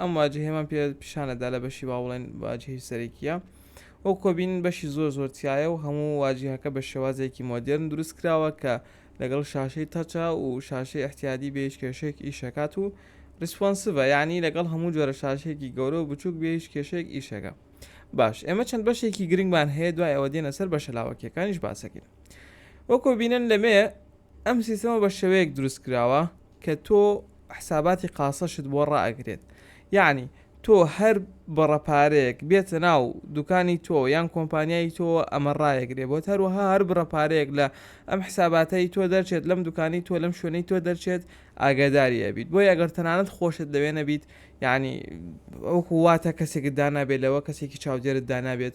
ئەم واجهەیەمان پێ پیشانەدا لە بەشی با بڵێن واجهی سەرەکیە وەک کۆبین بەشی زۆر زۆر تایە و هەموو واجهەکە بە شێوازێکی مۆدرن دروست کراوە کە لەگەڵ شاشەی تەچە و شاشەی احتیادی بە هیچ کێشێک ئیشەکات و ریسپۆنسڤە یعنی لەگەڵ هەموو جۆرە شاشێکی گەورە و بچووک بێ هیچ کێشێک ئیشەکە باش ئێمە چەند بەشێکی گرنگمان هەیە دوای ئەوە دێنە سەر بەشە لاوەکیەکانیش باسەکەین وەکۆ بینن لەمێ ئەم سیستەمە بە شێوەیەک دروست کراوە کە تۆ حساباتی قاسەشت بۆ ڕائەگرێت یەعنی تۆ هەر بڕە پارەیەک بێتە ناو دوکانی تۆ یان کۆمپانیای تۆ ئەمە ڕایەگرێ بۆت هەروەها هەر بڕە پارەیەک لە ئەم حساباتەی تۆ دەرچێت لەم دوکانی تۆ لەم شوێنەی تۆ دەرچێت ئاگاداری ئەبیت بۆیە ئەگەر تەنانەت خۆشت لەوێ نەبیت یەعنی وەکو واتە کەسێکت دانابێت لەوە کەسێکی چاودێرت دانابێت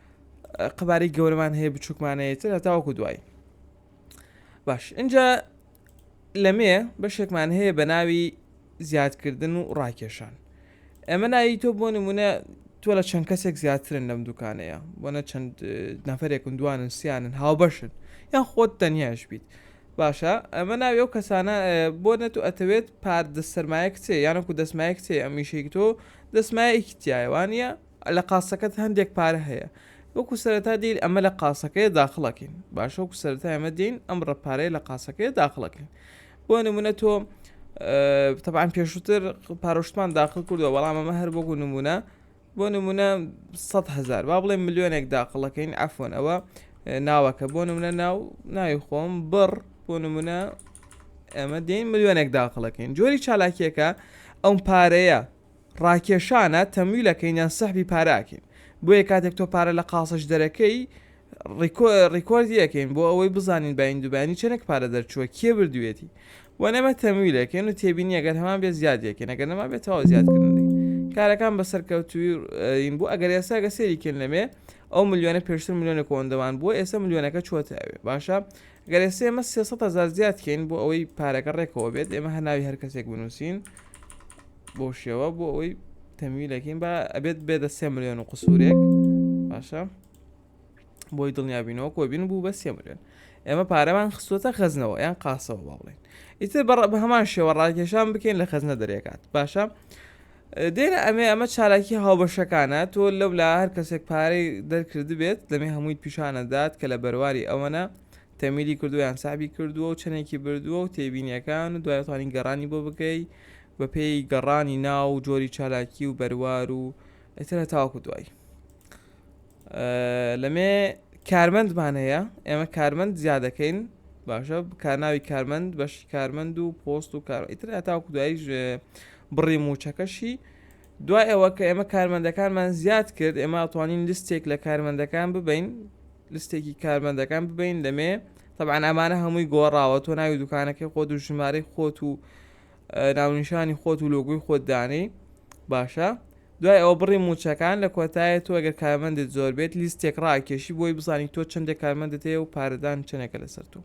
قەبارەی گەورەمان هەیە بچووکمانەیەتر هەتاوەکو دوایی باش اینجا لەمێ بەشێکمان هەیە بە ناوی زیادکردن و ڕاکێشان ئەمە ناوی تۆ بۆ نمونە تۆ لە چەند کەسێک زیاترن لەم دوکانەیە بۆنە چەند نەفرێکن دوانن سیانن هاوبەشن یان خۆت تەنیاش بیت باشە ئەمە ناوی ئەو کەسانە بۆ نەت و ئەتەوێت پارد سەرمایە کچێ یانەکو دەسمایە کچێ ئەمیشێک تۆ دەسمایەکی تایوانە لە قاسەکەت هەندێک پارە هەیە وەکو سەرەتا دێین ئەمە لە قاسەکەیە داخڵەکەین باشە وەکو سەرەتا ئەمە دێین ئەم ڕەپارەیە لە قاسەکەیە داخڵەکەین بۆ نمونە تۆ تەبان پێشووتر پارۆشتمان داخل کردو بەڵام ئەمە هەر بۆگو نمونە بۆ نمونە 100 هزار با بڵێ ملیۆنێک داخڵەکەین ئەفۆن ئەوە ناوەکە بۆ نمونە ناو ناوی خۆم بڕ بۆ نمونە ئەمە دێن ملیۆنێک داخڵەکەین جۆری چالاکیەکە ئەم پارەیە ڕاکێشانە تەمویل ئەکەین یان سەحبی پارە ئەکەین بۆیە کاتێک تۆ پارە لە قاصە جدەرەکەی ڕیکۆردی ئەکەین بۆ ئەوەی بزانین بایند و بانی چەنێک پارە دەرچووە کێ بردوێتی وەن ئەمە تەمویل ئەکەین و تێبینی ئەگەر هەمان بێ زیادی ئەکەین ئەگەر نەما بێ تەواو زیاد کردنی کارەکان بە سەرکەوتووین بۆ ئەگەر ئێستا گە سێری کێن لەمێ ئەو ملیۆنە پێشتر ملیۆنە کۆندەوان بووە ئێستا ملیۆنەکە چۆتە ئەوێ باشە گەر ئێستا ئێمە 300 هزار زیاد کەین بۆ ئەوەی پارەکە ڕێکەوە بێت ئێمە هەناوی هەر کەسێک بنووسین بۆ شێوە بۆ ئەوەی تەمیلەکەین با ئەبێت بێدە سێ ملیۆن و قسوورێک باشە بۆی دڵنیابینەوە کۆبین بوو بە سێ ملیۆن ئێمە پارەمان خستوتە خەزنەوە یان قاسەوە با بڵێن ئیتر بەڕ بە هەمان شێوە ڕاکێشان بکەین لە خەزنە دەرێکات باشە دێنە ئەمێ ئەمە چالاکی هاوبەشەکانە تۆ لەو لا هەر کەسێک پارەی دەرکرد بێت دەمێ هەمووی پیشانەدات کە لە بەرواری ئەوەنە تەمیلی کردویان سابی کردووە و چەندێکی بردووە و تێبینیەکان و دوایتوانین گەڕانی بۆ بکەیت بە پێی گەڕانی ناو و جۆری چالاکی و بەروار و ئیتر هەتاوەکو دوایی لەمێ کارمەندمان هەیە ئێمە کارمەند زیادەکەین باشە کارناوی کارمەند بەشی کارمەند و پۆست و کار ئیتر هەتاوەکو دوایی بڕی موچەکەشی دوای ئەوە کە ئێمە کارمەندەکانمان زیاد کرد ئێمە ئەتوانین لستێک لە کارمەندەکان ببین لستێکی کارمەندەکان ببین لەمێ تەبعەن ئەمانە هەمووی گۆڕاوە تۆ ناوی دوکانەکەی خۆت و ژمارەی خۆت و ناونیشانی خۆت و لۆگوی خۆت دانەی باشە دوای ئەوە بڕی موچەکان لە کۆتایە تۆ گەر کارمەندت زۆر بێت لیستێک ڕاکێشی بۆی بزانانی تۆ چندێک کارمەندت هەیە و پارەدان چنێکە لەسەر تۆ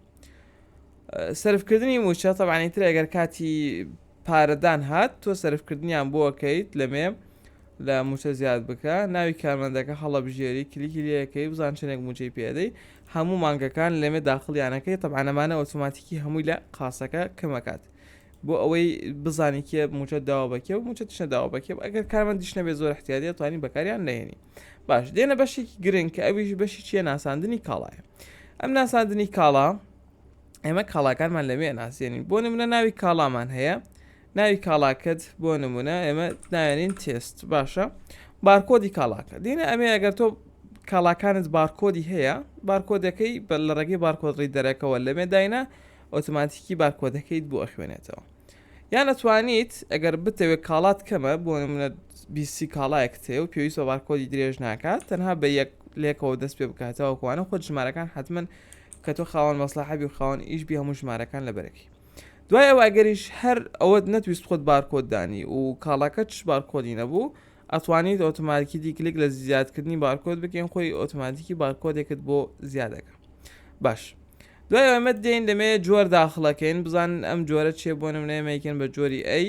سرفکردنی موچە تەبانی تر ئەگەر کاتی پارەدان هات تۆ سرفکردنیان بۆکەیت لەمێ لە موچە زیاد بکە ناوی کارمەندەکە هەڵبژێری کلیکی لەکەی بزان چنێک موچەی پێدەی هەموو مانگەکان لەمێ داخڵیانەکەی طبعا ئەمانە ئۆتۆماتیکی هەمووی لە قاسەکە کەمەکات بۆ ئەوەی بزانانی کێ موچە داوا بەکێ و موچە تشە داوا بەکێ ئەگەر کارمان دیشنە بێ زۆر احتیادی توانی بەکاریان لێنی باش دێنە بەشێکی گرنگ کە ئەویش بەشی چیە ناساندنی کاڵایە ئەم ناساندنی کاڵا ئێمە کاڵاکانمان لەوێ ناسیێنین بۆ نمونە ناوی کاڵامان هەیە ناوی کاڵاکەت بۆ نمونە ئێمە ناوێنین تێست باشە بارکۆدی کاڵاکە دینە ئەمێ ئەگەر تۆ کاڵاکانت بارکۆدی هەیە بارکۆدەکەی بە لە ڕێگەی بارکۆدڕی دەرەکەەوە لەمێ داینە ئۆتوماتیکی بارکۆدەکەیت بۆ ئەخوێنێتەوە یان ئەتوانیت ئەگەر بتەوێت کاڵات کەمە بۆ منە بیسی کاڵایەک تێ و پێویست بە بارکۆدی درێژ ناکات تەنها بە یەک لێکەوە دەست پێ بکاتەوە کوانە خۆ ژمارەکان حتمما کە تۆ خاوەن مەسلحەبی و خاوەن ئیش بی هەموو ژمارەکان لە بەرەکی دوای ئەوە ئەگەریش هەر ئەوەت نەتویست خۆت بارکۆد دانی و کاڵاکەتش بارکۆدی نەبوو ئەتوانیت ئۆتۆماتیکی کلیک لە زیادکردنی بارکۆد بکەین خۆی ئۆتۆماتیکی بارکۆدێکت بۆ زیادەکە باش دوای ئەمە دێن دەمەیە جۆر داخڵەکەین بزانن ئەم جۆرە چێ بۆ نمونەیە مەیکن بە جۆری ئەی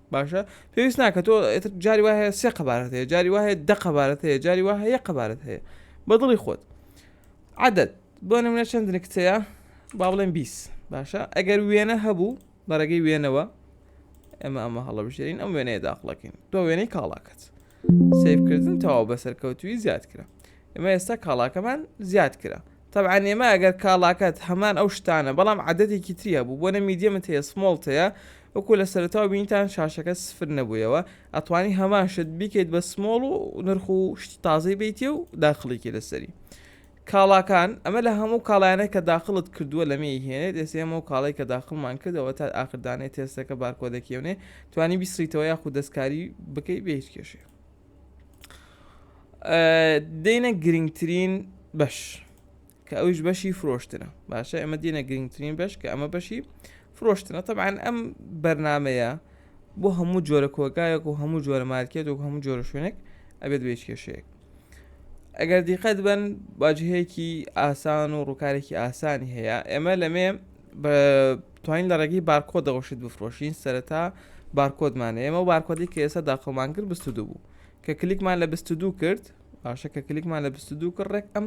باشە پێویست ناکە تۆ ئێتر جاری وایە سێ قەبارەت هەیە جاری وایە دە قەبارەت هەیە جاری وایە یە قەبارەت هەیە بەدڵی خۆت عادەت بۆ نمونە چەند نکتەیە با بڵێن بیس باشە ئەگەر وێنە هەبوو بەڕێگەی وێنەوە ئێمە ئەمە هەڵەبژێرین ئەم وێنەیە داخڵەکەین تۆ وێنەی کاڵاکەت سیفکردن تەواو بەسەرکەوتوی زیاد کرا ئێمە ئێستا کاڵاکەمان زیاد کرا تەبعەن ئێمە ئەگەر کاڵاکەت هەمان ئەو شتانە بەڵام عەدەدێکی تری هەبوو بۆنە میدیەمت هەیە سمۆڵت هەیە وەکو لە سەرەتاوە بینیتان شاشەکەت سفر نەبوویەوە ئەتوانی هەمان شت بیکەیت بە سمۆڵ و نرخ و شتی تازەی بیتێ و داخڵیکی لەسەری کاڵاکان ئەمە لە هەموو کاڵایانە کە داخڵت کردووە لەمێ هێنێت ئێسێمە و کاڵی کە داخڵمان کردەوە تا ئاخردانێ تێستەکە بارکۆدەکیێونێ توانی بیسریتەوە یاخود دەستکاری بکەی بێ هیچ کێشێ دێنە گرنگترین بەش کە ئەوش بەشی فرۆشتنە باشە ئەمە دێنە گرنگترین بەش کە ئەمە بەشی فرۆشتنە طبعاان ئەم بەرنمەیە بۆ هەموو جۆرە کۆگایەک و هەموو جۆرە مارکێت و هەموو جۆرە شوێنێک ئەبێت بێچ کێشەیەک ئەگەر دیقەت بن باجهەیەکی ئاسان و ڕووکارێکی ئاسانی هەیە ئێمە لەمێ بە توانین لە ڕێگەی بارکۆدەوە شت بفرۆشین سەرەتا بارکۆدمان ئێمە و بارکۆدی کە ئێستا داخڵمان کرد بست و دوو بوو کە کلیکمان لە بست و دوو کرد باشە کە کلیکمان لە بست و دوو کرد ڕێک ئەم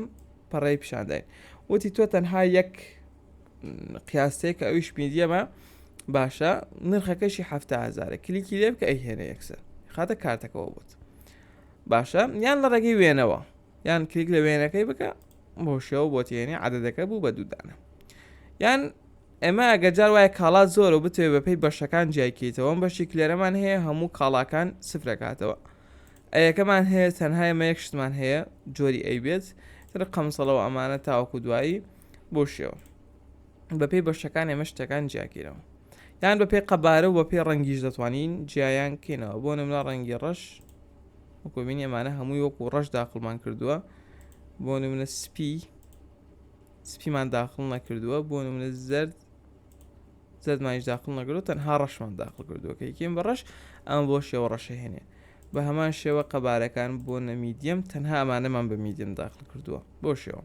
پەڕی پیشانداین وتی تۆ تەنها یەک قیاسەیە کە ئەویش میدیەمە باشە نرخەکەشی هزار کلیکی لێ بکە ئەی هێنە یەکسەر خاتە کارتەکەەوە بوت باشە یان لە ڕێگەی وێنەوە یان کلیک لە وێنەکەی بکە بۆ شێوە بۆ تێنی عادەتەکە بوو بە دوودانە یان ئێمە ئەگە جار وایە کاڵا زۆر و بتوێ بەپی بەشەکان جیایکەیتەوە بەشی کلێرەمان هەیە هەموو کاڵاکان سفرەکاتەوە ئەیەکەمان هەیە تەنها ئمە یەک شتمان هەیە جۆری ئەی بێت تر قەمسەڵەوە ئەمانە تاوەکو دوایی بۆ شێوە بەپی بەشەکان ئێمە شتەکان جیاکەینەوە یان بەپی قەبارە و بەپی ڕەنگیش دەتوانین جیایان کەینەوە بۆ نمرا ڕەنگی ڕەش وەکو بینی ئەمانە هەمووی وەکو ڕەش داخڵمان کردووە بۆ نمونە سپی سپیمان داخڵ نەکردووە بۆ نمونە زرد زەردمانش داخڵ نەگرۆ تەنها ڕەشمان داخڵ کردووە کە یکیم بە ڕەش ئەم بۆ شێوە ڕەشە هێنێ بە هەمان شێوە قەبارەکان بۆ نەمیدیم تەنها ئەمانەمان بە میدیم داخل کردووە بۆ شێوە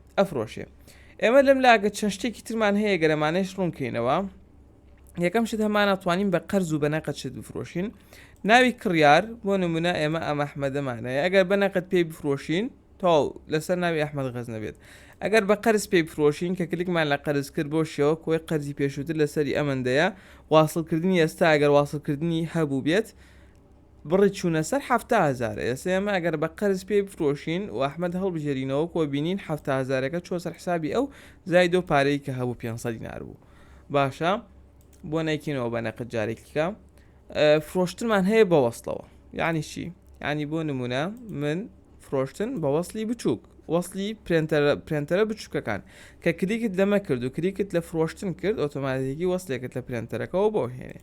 ئەفرۆشێ ئێمە لەم لاگە چەند شتێکی ترمان هەیە گەرەمانەش ڕوونکەینەوە یەکەم شت هەمانە توانین بە قەرز و بە نەقەت شت بفرۆشین ناوی کڕیار بۆ نمونە ئێمە ئەمە ئەحمەدەمانەیە ئەگەر بە نەقەت پێی بفرۆشین تاو لەسەر ناوی ئەحمد غەز نەبێت ئەگەر بە قەرز پێی بفرۆشین کە کلیکمان لە قەرز کرد بۆ شێوە کۆی قەرزی پێشووتر لەسەری ئەمەندەیە واصلکردنی ئێستا ئەگەر واصلکردنی هەبوو بێت بڕی چوونە سەر حەفتا هەزار، ئێسە ئێمە ئەگەر بە قەرز پێی بفرۆشین و ئەحمەد هەڵبژێرینەوە کۆ بینین حەفتا هەزارەکە چووە سەر حسابی ئەو زایدە و پارەی کە هەبوو پێنج سەد دینار بوو باشە بۆ نایکەینەوە بە نەقد جارێکیکە فرۆشتنمان هەیە بە وەستەوە یعنی چی ینی بۆ نمونە من فرۆشتن بە وەصلی بچووک وەصلی پرێنتەرە بچووکەکان کە کلیکت لەمە کرد و کلیکت لە فرۆشتن کرد ئۆتۆماتیکی وەستێکت لە پرێنتەرەکەەوە بۆ هێنێ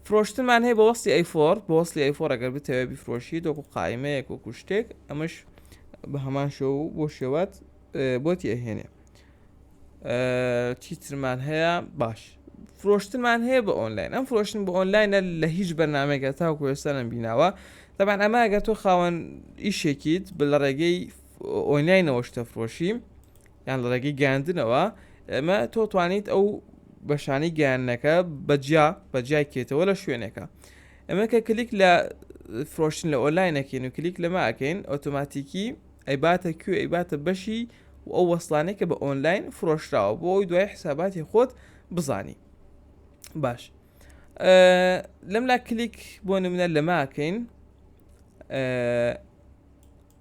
فرۆشتنمان هەیە بە وەستی ئەیفۆر بە وەستی ئەیفۆر ئەگەر بتەوێت بیفرۆشی دۆکو قایمەیەک وەکو شتێک ئەمەش بە هەمان شە و بۆ شێوات بۆتی ئەهێنێ چیترمان هەیە باش فرۆشتمان هەیە بە ئۆنلاین ئەم فرۆشتن بە ئۆنلاینە لە هیچ بەرنمێکە تا کوێستانم بیناوە دەبان ئەمە گە تۆ خاوەن ئیشێکیت بە لە ڕێگەی ئۆنلاینەوە شتە فرۆشی یان لە ڕێگەی گەیاندنەوە ئەمە تۆ توانیت ئەو بەشانی گەیانەکە بەجیا بەجیای کێتەوە لە شوێنێکە ئەمە کە کلیک لە فرۆشتن لە ئۆلاینەکەین و کلیک لەمە ئەکەین ئۆتۆماتیکی ئەیباتە کوێ ئەیباتە بەشی و ئەو وەسلانێک کە بە ئۆنلاین فرۆشراوە بۆ ئەوی دوای حساباتی خۆت بزانی باش لەم لا کلیک بۆ نمونە لەماکەین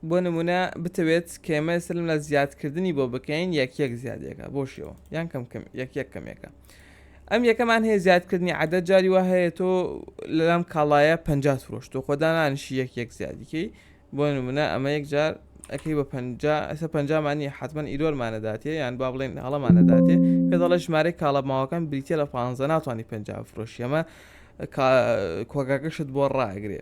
بۆ نمونە بتەوێت کێمەی سلم لە زیاد کردنی بۆ بکەین یەک یەک زیادێکە بۆ شێوە یان کەم کەم یەک یەک کەمێکە ئەم یەکەمان هەیە زیادکردنی عادە جاری وە هەیە تۆ لەلام کاڵایە پ فرۆش تۆ خۆدانانشی یەک یەک زیادیکەی بۆ نمونە ئەمە یەک جار ئەەکەی بە پ ئەسە پەنجامانی حتمما ئیرۆرمانەداتێ یان با بڵێن هەڵەمانەداتێ پێ دەڵە ژمارەی کاڵە ماوەکان بریتە لە پانزە ناتوانانی پ فرۆشیەمە کۆگاکەشت بۆ ڕاگرێ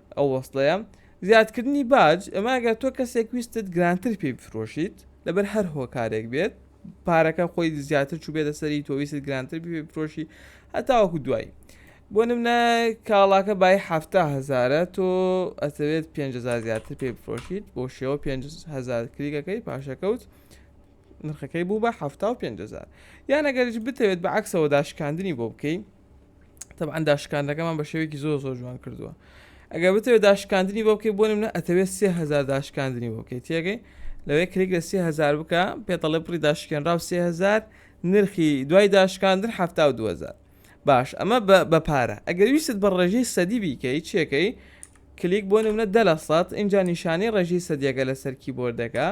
ئەو وەسڵەیە زیادکردنی باج ئەمە ئەگەر تۆ کەسێک ویستت گرانتر پێی بفرۆشیت لەبەر هەر هۆکارێک بێت پارەکە خۆی زیاتر چوو بێتە سەری تۆویست گرانتر پێ بفرۆشی هەتاوەکو دوایی بۆ نمنە کاڵاکە بای هەفتا هزارە تۆ ئەتەوێت 500 زیاتر پێ بفرۆشیت بۆ شێوە 500 کریگەکەی پاشەکەوت نرخەکەی بوو بە 500 یانەگەریش بتەوێت بە عکسەوە داشکاندنی بۆ بکەیت تەبعاان داشکاندەکەمان بە شێوەیەکی زۆر زۆر جوان کردووە ئەگە بتەوێ داشکاندنی بۆ بکەی بۆ منە ئەتەوێت سهزار داشکاندنی بۆ بکەیت تێگەی لەوەی کلیک لە سهزار بکە پێتەڵێ پڕی داشکێنراو سهزار نرخی دوای داشکاندن ه دوهزار باش ئەمە بە پارە ئەگەر ویست بە ڕێژەی سەدی بیکەی چێکەی کلیک بۆ نمونە دە لە سەد اینجا نیشانی ڕێژی سەدیەکە لەسەر کیبۆردەکە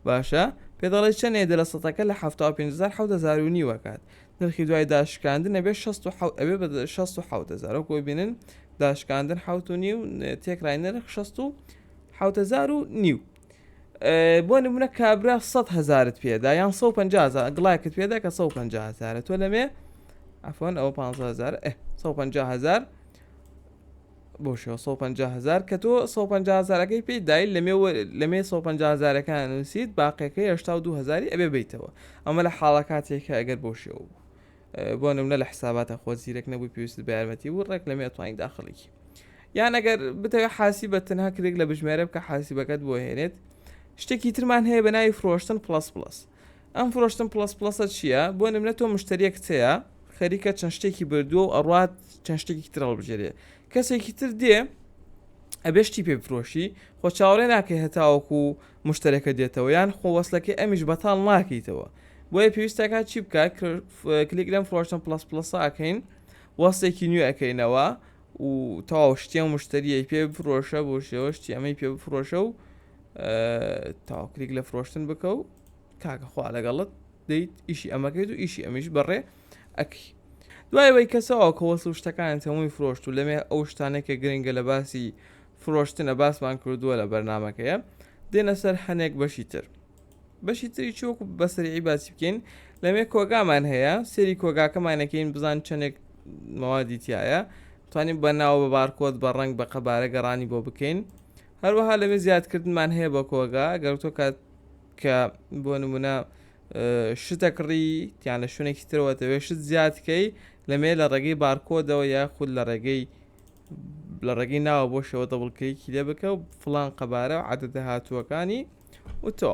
باشە پێ دەڵێ چەندێ دە لە سەتەکە لە 1970 نیوەکات نرخی دوای داشکاندن ئەبێت شەست و حەوت ئەبێت بە شەست و حەوت هەزار وەکو ببینن داشکاندن حەوت و نیو تێکرای نرخ شەست و حەوت هەزار و نیو بۆ نمونە کابرا سەد هەزارت پێدا یان 150 گڵاکت پێدا کە 150 هزارە تۆ لەمێ ئەفۆن ئەوە 500 هزار 150 هزار بەو شێوە سەد و پەنجا هەزار کە تۆ سەد و پەنجا هەزارەکەی پێی دای لەمێ وە لەمێ سەد و پەنجا هەزارەکان ئەنووسیت باقیەکەی هەشتا و دوو هەزاری ئەبێ بەیتەوە ئەمە لە حاڵە کاتێکە ئەگەر بەو شێوە بوو بۆ نمونە لە حساباتە خۆ زیرەک نەبووی پێویست بە یارمەتی بوو ڕێک لەمێ توانین داخڵێکی یان ئەگەر بتەوێت حاسی بە تەنها کرێک لە بژمێرە بکە حاسیبەکەت بۆ هێنێت شتێکی ترمان هەیە بە ناوی فرۆشتن پلس پلس ئەم فرۆشتن پڵەس پڵەسە چییە بۆ نمرە تۆ مشتریەکت هەیە خەریکە چەند شتێکی بردووە و ئەڕات چەند شتێکی تر هەڵبژێرێ کەسێکی تر دێ ئەبێ شتی پێ بفرۆشی خۆ چاوەڕێ ناکەی هەتاوەکو و مشتەرەکە دێتەوە یان خۆوەسلەکەی ئەمیش بەتاڵ ناکەیتەوە بۆیە پێویستەکە چی بکە کلیک لەم فرۆشتن پلس پلسە ئەکەین وەستێکی نوێ ئەەکەینەوە و تەواو شتیان مشتریە پێ بفرۆشە بۆ شێوە شتی ئەمەی پێ بفرۆشە و تاوکرێک لە فرۆشتن بکە و کاکەخوا لەگەڵت دەیت ئیشی ئەمەکەیت و ئیشی ئەمیش بەڕێ ئەکی دوای وی کەسەوە کەوەس و شتەکان هەمووی فرۆشت و لەمێ ئەو شتانێکە گرنگە لە باسی فرۆشتنە باسمان کردووە لە بەرنمەکەیە دێنە سەر هەنێک بەشی تر بەشی تری چۆک و بەسەری باسی بکەین لەمێ کۆگامان هەیە سێری کۆگاکەمانەکەین بزان چەندێک مەوادی تایە توانین بە ناو بە بارکۆت بە ڕنگ بە قەبارە گەڕانی بۆ بکەین هەروەها لەوێ زیادکردنمان هەیە بۆ کۆگا گەر تۆ کات کە بۆ نمونە شتە کڕی تیان لە شوێنێکی ترەوە دەوێت شت زیادکەی لەمێ لە ڕێگەی بارکۆدەوە یا خود لە ڕێگەی لە ڕێگەی ناوە بۆ شەوە دەبڵکەیەکی لێ بکە و فلان قەبارە و عادە دەهاتووەکانی وتۆ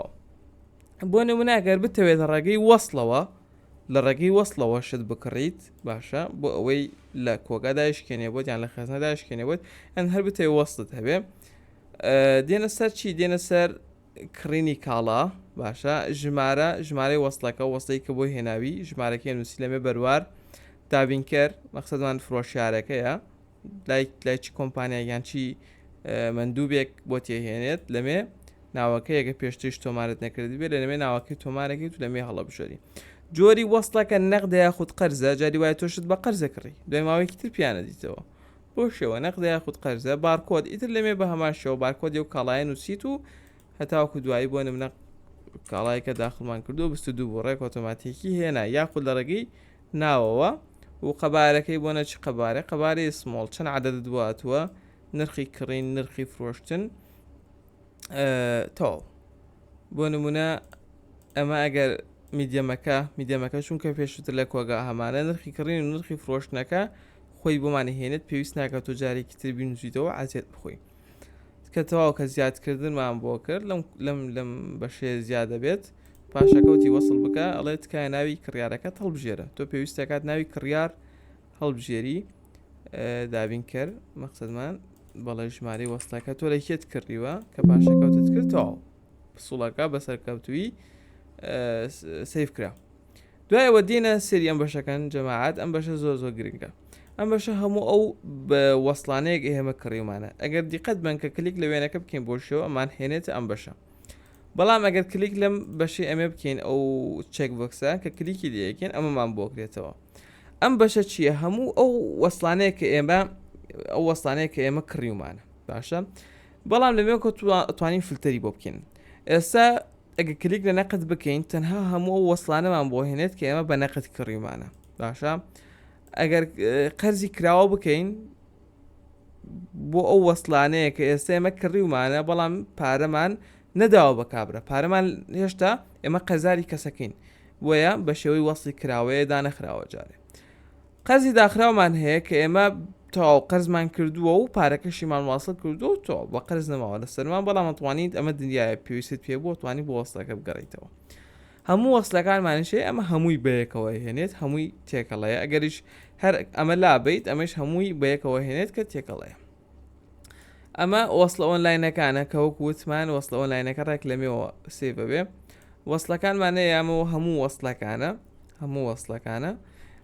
بۆ نموناگەر بتەوێت ڕێگەی وەصلەوە لە ڕێگەی وەسڵەوە شت بکڕیت باشە بۆ ئەوەی لە کۆگا دایشکێنێ بۆت یان لە خێزنە دایشکێنێ بۆت ئەن هەر بتێ وەستت هەبێ دێنە سەر چی دێنە سەر کڕینی کاڵا باشە ژمارە ژمارەی وەستەکە وەستەی کە بۆ هێناوی ژمارەکە نووسی لەمێ بەروار دابینکەر مەخصدمان فرۆشارەکەیە لای لای چ کۆمپانیایەک یان چی مەندووبێک بۆ تێهێنێت لەمێ ناوەکەیەکە پێشتریش تۆمارت نەکردبێت لە لەمێ ناوەکەی تۆمارەکەی تو لەمێ هەڵەبژێری جۆری وەستەکە نەقدە یاخود قەرزە جاری وایە تۆشت بە قەرزە کڕی دوای ماوەیەکی تر پیانە دیتەوە بۆ شێوە نەقدە یاخود قەرزە بارکۆد ئیتر لەمێ بە هەمان شێوە بارکۆد و کاڵایە نووسیت و هەتاوکو دوایی بۆ نمنە کاڵایەکە داخڵمان کردو بست دوو بۆ ڕێک ئۆتۆماتیکی هێنا یاخود لە ڕێگەی ناوەوە و قەبارەکەی بۆ نە چ قەبارە قەبارەی سمۆڵ چەند عەدەدت بۆ هاتووە نرخی کڕین نرخی فرۆشتن تەواو بۆ نمونە ئەمە ئەگەر میدیەمەکە میدیەمەکە چونکە پێشتر لە کۆگا هەمانە نرخی کڕین و نرخی فرۆشتنەکە خۆی بۆمانی هێنێت پێویست ناکات و جارێکی تر بینوسیتەوە عزیێت بخۆی کە تەواو کە زیادکردنمان بۆ کرد لەم لەم لەم بەشێ زیادە بێت پاشەکەوتی وەصل بکە ئەڵێ تکایە ناوی کڕیارەکەت هەڵبژێرە تۆ پێویستەکات ناوی کڕیار هەڵبژێری دابین کرد مەقصدمان بەڵێ ژماری وەستەکە تۆ لە کێت کڕیوە کە پاشەکەوتت کردەوە پسوڵەکە بەسەرکەوتوی سیف کرا دوای ئەوە دێنە سێری ئەم بەشەکەن جەماعات ئەم بەشە زۆر زۆر گرنگە ئەم بەشە هەموو ئەو وەسلانەیەک ئێمە کڕیومانە ئەگەر دیقەت بن کە کلیک لە وێنەکە بکەین بۆ شێوە ئەمان هێنێتە ئەم بەشە بەڵام ئەگەر کلیک لەم بەشی ئەمێ بکەین ئەو چێک بکسە کە کلیکی لەکەین ئەمەمان بۆکرێتەوە ئەم بەشە چییە هەموو ئەو وەسلانەیە کە ئێمە ئەو وەسلانەیە کە ئێمە کڕیومانە باشە بەڵام لەوێ کۆ توانین فلتەری بۆ بکەین ئێستا ئەگەر کلیک لە نەقد بکەین تەنها هەموو ئەو وەسلانەمان بۆ هێنێت کە ئێمە بە نەقد کڕیمانە باشە ئەگەر قەرزی کراوە بکەین بۆ ئەو وەسلانەیە کە ئێستا ئێمە کڕیومانە بەڵام پارەمان نەداوە بە کابرا پارەمان هێشتا ئێمە قەزاری کەسەکەین وەیە بە شێوەی وەستی کراوەیە دانەخراوە جارێ قەرزی داخراومان هەیە کە ئێمە تەواو قەرزمان کردووە و پارەکەشیمان واصل کردو و تۆ بە قەرز نەماوە لە سەرمان بەڵام ئەتوانیت ئەمە دنیاە پێویست پێ بووە توانی بۆ وەستەکە بگەڕیتەوە هەموو وەسلەکانمانشەیە ئەمە هەمووی بەیەکەوە هێنێت هەمووی تێکەڵەیە ئەگەریش هەر ئەمە لابیت ئەمەش هەمووی بەیەکەوە هێنێت کە تێکەڵەیە ئەمە وەصلە ئۆنلاینەکانە کە وەک وتمان وەصلە ئۆنلاینەکە ڕێک لەمێەوە سێبەبێ وەصلەکانمانە یامە و هەموو وەصلەکانە هەموو وەصلەکانە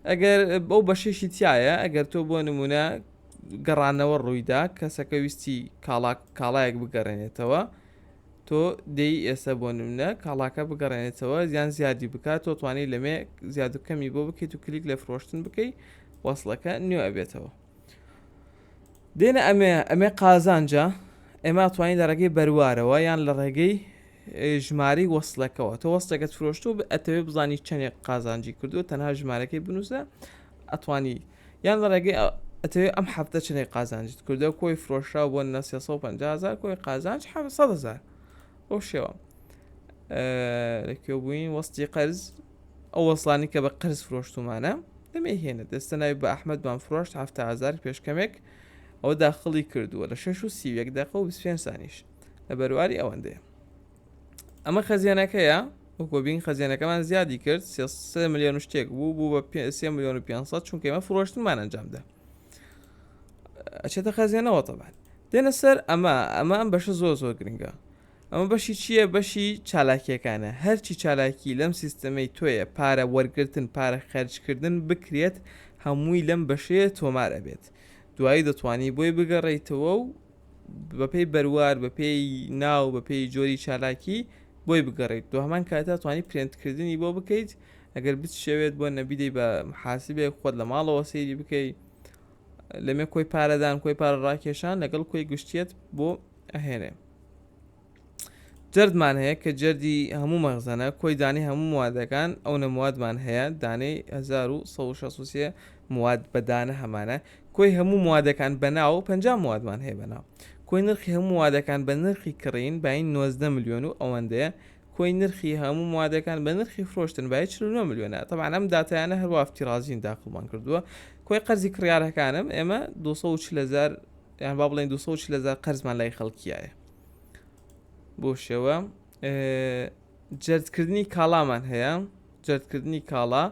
ئەگەر بەو بەشێکی تایە ئەگەر تۆ بۆ نمونە گەڕانەوە ڕوویدا کەسەکە ویستی کاڵاک کاڵایەک بگەڕێنێتەوە تۆ دەی ئێستا بۆ نمونە کاڵاکە بگەڕێنێتەوە زیان زیادی بکات تۆ توانی لەمێ زیاد و کەمی بۆ بکەیت و کلیک لە فرۆشتن بکەیت وەصلەکە نوێ ئەبێتەوە دێنە ئەمێ ئەمێ قازانجە ئێمە توانین لە ڕێگەی بەروارەوە یان لە ڕێگەی ژماری وەصلەکەەوە تۆ وەستەکەت فرۆشتو ئەتەوێ بزانی چەندێک قازانجی کردو تەنها ژمارەکەی بنووسە ئەتوانی یان لە ڕێگەی ئەتەوێ ئەم هەفتە چنێک قازانجت کردو کۆی فرۆشرا بۆ نە 350هزار کۆی قازانج 700هزار ئەو شێوە لەکوێ بووین وەستی قەرز ئەو وەسڵانەی کە بە قەرز فرۆشتومانە دەمێ هێنە دەستە ناوی بە ئەحمەدمان فرۆشت حەفتا هەزار پێشکەمێک ئەوە داخڵی کردووە لە شەش و سی و یەک دەقە و بیست پێنج سانیش لە بەرواری ئەوەندەیە ئەمە خەزیێنەکەیە وەکۆ بین خەزیێنەکەمان زیادی کرد سێ ملیۆن شتێک بوو بوو بە پێ سێ ملیۆن و 500 چونکە ئمە فرۆشتمان ئەنجامدا ئەچێتە خەزیێنەوە تەبان دێنە سەر ئەمە ئەمە ئەم بەشە زۆر زۆر گرنگە ئەمە بەشی چیە بەشی چالاکیەکانە هەرچی چالاکی لەم سیستەمەی تۆیە پارە وەرگرتن پارە خەرج کردن بکرێت هەمووی لەم بەشەیە تۆمار ئەبێت دوایی دەتوانی بۆی بگەڕێیتەوە و بەپێی بەروار بەپێی ناو بەپێی جۆری چالاکی بۆی بگەڕێیت دو هەمان کاتا توانی پرێنت کردنی بۆ بکەیت ئەگەر بتشەوێت بۆ نەبیدەی بە محاسبێک خۆت لە ماڵەوە سەیری بکەیت لەمێ کۆی پارەدان کۆی پارە ڕاکێشان لەگەڵ کۆی گشتیت بۆ ئەهێنێ جەردمان هەیە کە جەردی هەموو مەغزەنە کۆی دانەی هەموو موادەکان ئەو نەموادمان هەیە دانەی 1960 مواد بەدانە هەمانە کۆی هەموو موادەکان بەناو و پ موادمان هەیە بەناو کۆی نرخی هەموو وادەکان بە نرخی کڕین باین 90 میلیۆن و ئەوەندەیە کۆی نرخی هەموو موادەکان بە نرخی فرۆشتن بای 49 میلیۆنە تەبان ئەم دااتیانە هەروافتی رازین داخڵمان کردووە کۆی قەرزی کڕارەکانم ئێمە 240 هزار یان با بڵێن 240 هزار قەرزمان لای خەڵکیایە بۆ شێوە جەردکردنی کاڵامان هەیە جەردکردنی کاڵا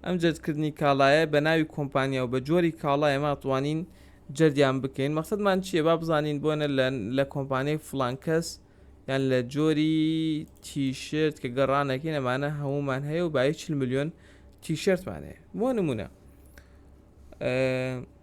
ئەم جەردکردنی کاڵایە بە ناوی کۆمپانیا و بە جۆری کاڵا ئێمە توانین جەردیان بکەین مەقصدمان چییە با بزانین بۆنە لە کۆمپانیای فلانکەس یان لە جۆری تیشرت کە گەڕانەکەی نەمانە هەمومان هەیە و بای چ میلیۆن تیشرتمان هەیە بۆ نمونە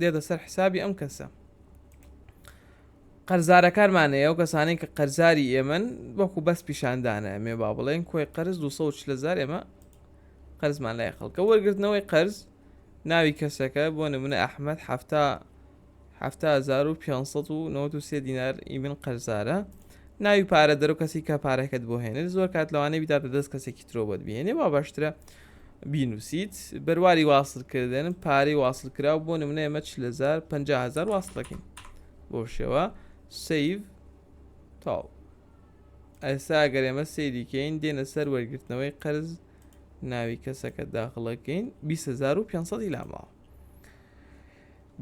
دێتە سەر حسابی ئەم کەسە قەرزارەکانمانەیە و کەسانی کە قەرزاری ئێمن وەکو بەس پیشاندانە ئەمێ با بڵێن کۆی قەرز 200 لەزار ئێمە قەرزمان لای خەڵکە وەرگرتنەوەی قەرز ناوی کەسەکە بۆ نمونە ئەحمد هەفتا 1993 دینار ئیمن قەرزارە ناوی پارە دەرو کەسی کە پارەکەت بۆ هێنێت زۆر کات لەوانەیە بداتە دەست کەسێکی ترۆبەت بێنێ با باشترە بینوسیت بەرواری واسل کردن پارەی واسل کراو بۆ نمونە ئێمە چ لەزار پ هزار واست دەکەین بۆ شێوە سیڤ تاو ئەسا گەر ئێمە سەیریکەین دێنە سەر وەرگرتنەوەی قەرز ناوی کەسەکە داخڵەکەین 2500 لاماوە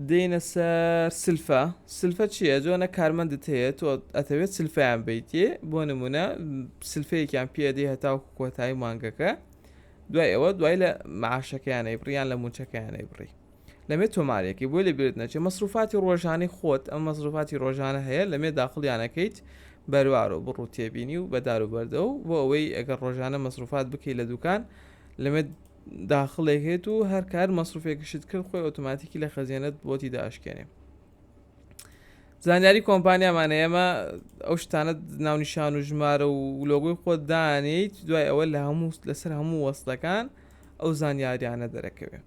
دێینە سەر سلفە سلفە چییە جۆ نە کارمەندت هەیە تۆ ئەتەوێت سلفیان بیتێ بۆ نمونە سلفەیەکیان پێدی هەتاو کۆتایی مانگەکە دوای ئەوە دوای لە معاشەکەیانەی بڕیان لە موچەکەیانەی بڕی لەمێ تۆمارێکی بۆی لە بێت نەچێت مەسروفاتی ڕۆژانی خۆت ئەم مەسروفاتی ڕۆژانە هەیە لەمێ داخڵیانەکەیت بەروار و بڕوو تێبینی و بەدار و بەردە و بۆ ئەوەی ئەگەر ڕۆژانە مەسروفات بکەیت لە دوکان لەمێ داخڵێک هەیەت و هەر کار مەسروفێکشت کرد خۆی ئۆتۆماتیکی لە خەزیێنت بۆتی داشکێنێ زانیاری کۆمپانیامان ئێمە ئەو شتانە ناونیشان و ژمارە و لۆگوی خۆت دانیت دوای ئەوە لە هەموو لەسەر هەموو وەستەکان ئەو زانیاریانە دەرەکەوێت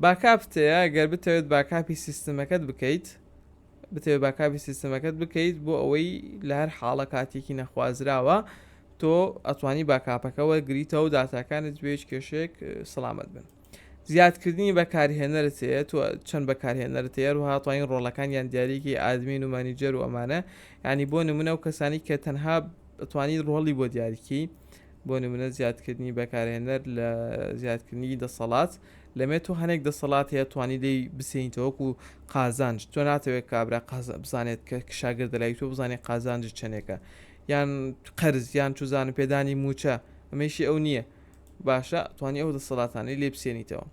باکاپتەیە گەر بتەوێت باکاپی سیستمەکەت بکەیت بتەوێت باکاپی سیستەمەکەت بکەیت بۆ ئەوەی لە هەر حاڵە کاتێکی نەخوازراوە تۆ ئەتوانی باکاپەکە وەرگریتەوە داتاکانت بێ هیچ کێشێک سەلامەت بن زیادکردنی بەکارهێنەرت هەیە تۆ چەند بەکارهێنەرت هەیە و هاتوانین ڕۆڵەکان یان دیارێکی ئادمین و مانیجەر و ئەمانە ینی بۆ نمونە و کەسانی کە تەنها بتوانین ڕۆڵی بۆ دیارکی بۆ نمونە زیادکردنی بەکارهێنەر لە زیادکردنی دەسەڵات لەمێ تۆ هەنێک دەسەڵات هەیە توانی لێی بسێنیتەوە وەکو قازانج تۆ ناتەوێت کابرا بزانێت کە شاگردە لای تۆ بزانێت قازانجی چەندێکە یان قەرز یان چوزانم پێدانی موچە ئەمەیشی ئەو نییە باشە توانی ئەو دەسەڵاتانی لێ بسێنیتەوە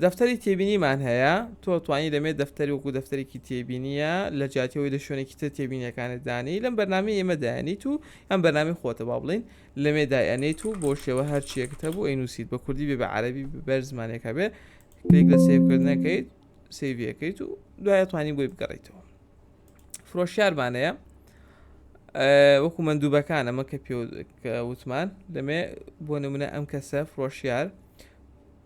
دەفتەری تێبینیمان هەیە تۆ توانی دەمێت دەفتەری وەکو دەفتەرێکی تێبینیە لە جاتیەوەی لە شوێنێکی تر تێبینیەکانت دانی لەم بەرنامی ئێمە دایانی تو ئەم بەنامی خۆتە با بڵین لەمێ دای ئەنێیت و بۆ شێوە هەرچیەکت هەبوو ئەینوسیت بە کوردی بێ بە عەرەبی بەر زمانێکە بێ کلیک لە سیوکردنەکەیت سیویەکەیت و دوایە توانی بۆی بگەڕیتەوە فرۆشیارمانەیە وەکو مندوبەکان ئەمە کە پێ وتمان دەمێ بۆ نمونە ئەم کەسە فرۆشیار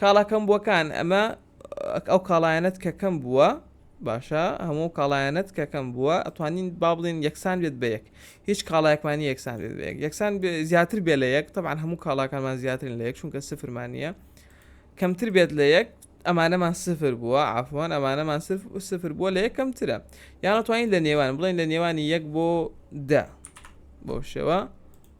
کاڵا کەم بووەکان ئەمە ئەو کاڵایەنەت کە کەم بووە باشە هەموو کاڵایەنەت کە کەم بووە ئەتوانین با بڵین یەکسان بێت بە یەک هیچ کاڵایەکمانی یەکسان بێت بەیەک یەکسان زیاتر بێ لە یەک تەبان هەموو کاڵاکانمان زیاترین لە یەک چونکە سفرمانە کەمتر بێت لە یەک ئەمانەمان سفر بووە ئافوان ئەمانەمان سفر بووە لە یەکەمترە یانەتوانین لە نێوان بڵێن لە نێوانی یەک بۆ دە بۆ شێوە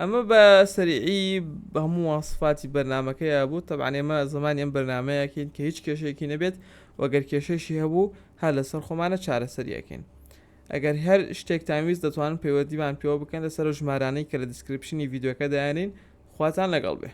ئەمە بە سەریعی هەموو واسفاتی بەرنمەکەی بوو تەبان ئێمە زمانی ئەم بەرنمەیەکەین کە هیچ کێشێکی نەبێت وەگەر کێشەشی هەبوو هەر لەسەر خۆمانە چارەسەریەکەین ئەگەر هەر شتێک تاویست دەتوانن پەیوەدیمان پێوە بکەن لەسەر ژمارانەی کە لە دیسکرپشنی یددیوەکە دایانین خواتان لەگەڵ بێ.